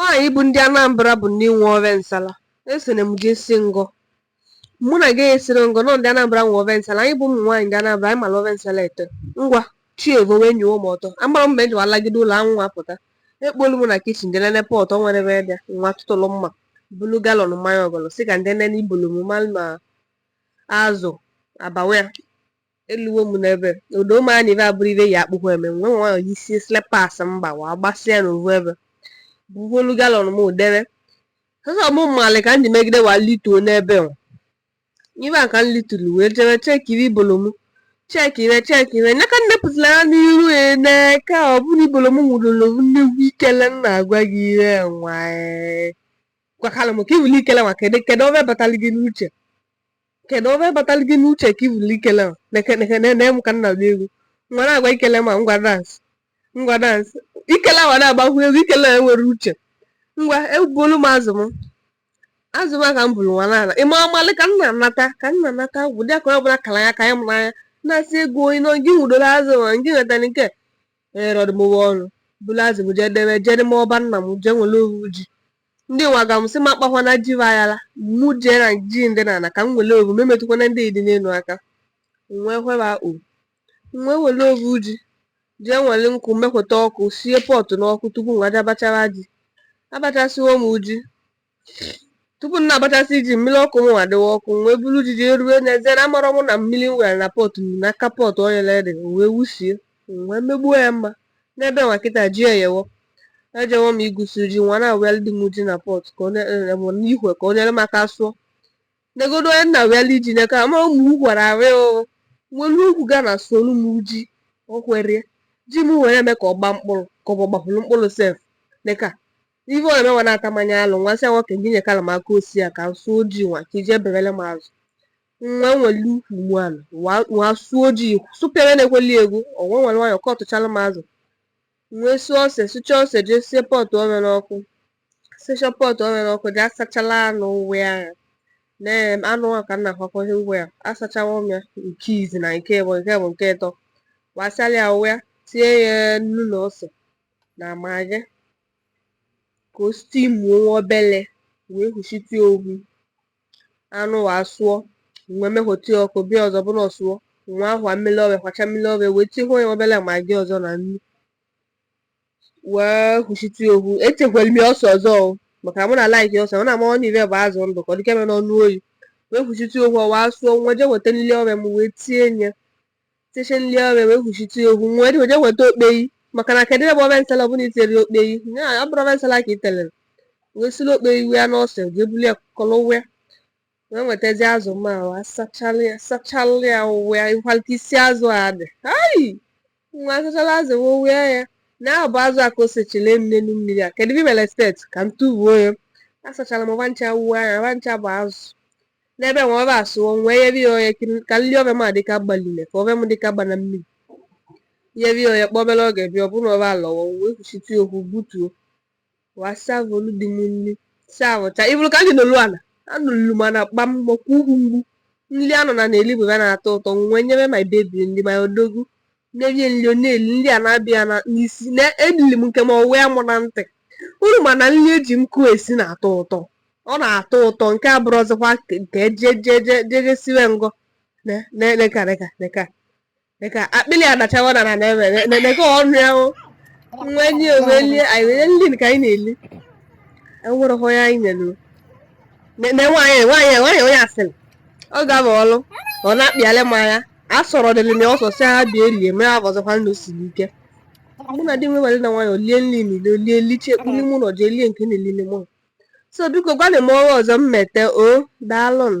anyị bụ ndị Anambra bụ ndị nwe ove nsala esere m gị si ngọ mụ na gị esiri ngọ nọ ndị Anambra nwe ove nsala anyị bụ ụmụ nwaanyị ndị Anambra anyị mara ove nsala ete ngwa chi evo wee nyewo m ọtọ amara m ma eji walagide ụlọ anwụ apụta ekpolu m na kichin dị nene pọt ọ nwere ebe bịa nwa tụtụlụ mma bulu galọn mmanya ọgọlọ sị ka m je nene ibolo m ma azụ abawa ya Eluwo m n'ebe, ụda ụmụ anyị ive abụrụ ive ya akpụkwa eme, m wee nwayọ yisie slippers m gbawa, agbasịa n'ovu ebe. Bugolu galọn m debe. Sọsọ mụ malị ka m ji megide wa lituo n'ebe nwa. Ebe a ka m lituru wee jebe chekibe ibolo m. Chekibe chekibe. Nya ka nne pụtara ya n'iru ya n'aka ọ bụrụ ibolo m nwụrụrụ m nnukwu ikele m na-agwa gị ihe nwa. Gwakalụ m ka i bulu ikele nwa kedu kedu ove batara gị n'uche. kedu ove batara gị n'uche ka i bulu ikele na m ka na-agụ egwu ngwa na-agwa ikele m ngwa dansị ngwa dansị ikele awa na-agbakwu egwu ikele enwere uche ngwa ebulu m azụ m azụ m a ka m buru nwa n'ala ịma amalị ka nna nata ka nna nata gwụ dị akụrụ ọbụla kara ya ka ya mụrụ anya na-asị ego onye nọ gị nwudoro azụ ma gị nwetara nke erọdụmụwa ọnụ buru azụ m jee debe jee n'ime ọba nna m jee were ovu ji Ndị nwa gwa m sị m akpakwana ji aghara mụ jee na ji ndị n'ana ka m were ovu m emetụkwana ndị dị n'elu aka m wee hweba o m wee were ovu ji jee were nkụ mekweta ọkụ sie pọtụ n'ọkụ tupu m aja bachara ji abachasịwo m ji tupu m na-abachasị ji mmiri ọkụ m adịwa ọkụ m wee buru ji jee rue n'ezie na amarọ m na mmiri m were na pọtụ na aka pọtụ ọ yere ede m wee wusie m wee megbuo ya mma n'ebe nwa kịta ji eyewo ejewo m igusi ji nwa na-awịalị di m ji na pọt ka onye n'ihwe ka o nye m aka sụọ negodo onye nna wịalị ji n'aka ma ụmụ ukwara arị o nwere ukwu ga na-asụlụ m ji okwerie ji m were eme ka ọ gba mkpụrụ ka ọ bụ gbapụrụ mkpụrụ sef neka ife ọ na-emewa na-atamanye alụ nwa sị nwoke gị nyekala m aka osi ya ka m sụọ ji nwa ka i je berele m azụ nwa nwere ukwu mu ala wa wa sụọ ji sụpịara na-ekweli egwu ọ wee were nwayọ ka ọ tụchara m azụ m wee sụọ ose sụcha ose jee sie pọtụ ove n'ọkụ sicha pọtụ ove n'ọkụ jee asachala anụ uwe ahụ na em, anụ ahụ ka m na-akwakọghị uwe ya asachawa m ya nke izi na nke ịbụ nke bụ nke ịtọ wasala ya uwe ya tie ya nnu na ose na magi ka o stimuo nwa obele wee huchite ohu anụ wa asụọ m wee mehoti ọkụ bịa ọzọ bụrụ ọ sụọ nwa ahwa mmiri ove kwacha mmiri ove wee tihu onye obele magi ọzọ na nnu wee hụchite ohu etikwere m ya ose ọzọ o maka mụ na-alaiki ose mụ na ma ọnụ ive bụ azụ ndụ ka ọ dịka mere n'ọnụ oyi wee hụchite ohu ọ wa asụọ nwa je weta nri ove m wee tienye Tiche nri ove wee kwuchite ya okwu nwee jee weta okpeyi maka na kedụ ebe ove nsala ọbụla i terọ ya okpeyi ya ọ bụrọ ove nsala ka i telere wee siri okpeyi wee na ose jee buru ya kọrọ ụwa ya wee nwetazi azụ ma wa sachala ya sachala ya ụwa ya ịkwara ka isi azụ a dị ayi nwa asachala azụ wee ụwa ya na ahụ bụ azụ a ka o sechile m n'elu mmiri a kedụ ebe i mere steeti ka m tụbuo ya asachara m va ncha wuo anya va ncha bụ azụ N'ebe nwa ove asụọ nwee yeri ya oye ka nri ove m adịka agbalile ka ove m adịka agba na mmiri yeri ya oye kpọọ obere oge bịa ọ bụrụ na ove alọwo wee kwuchite ya okwu butuo wa savolu di m nri savụcha ị vụlụ ka anyị nọlu ana anọlu m ana kpam maka ukwu mgbu nri a nọ n'ana eri bụ ya na-atọ ụtọ nwee nyebe my baby nri my odogwu Na-erie nri ọ na-eri, nri a na-abịa ya n'isi, na-eriri m nke m, ọ wee mụ na ntị. Unu ma na nri e ji nkụ esi na-atọ ụtọ, ọ na-atọ ụtọ, nke a bụrụzikwa nke je je je je je siwe ngọ na na neka neka neka neka akpịrị adachawa na na na na na neka ọnụ ya o nwa nye wee lie anyị wee nri ka anyị na-eli enwereghị onye anyị nyere o. nwaanyị onye asịrị ọ ga-abụ ọlụ ọ na-akpịalị m anya a sọrọ dịrị na ọsọ si ha bịa elie mee ha ọzọkwa ndụ siri ike mụ na di m were na nwayọọ lie nri niile lie liche e kpu n'ime ụnọ jee lie nke a na-eli n'ime ụnọ so biko gwanị m ove ọzọ m mete o daalụ nụ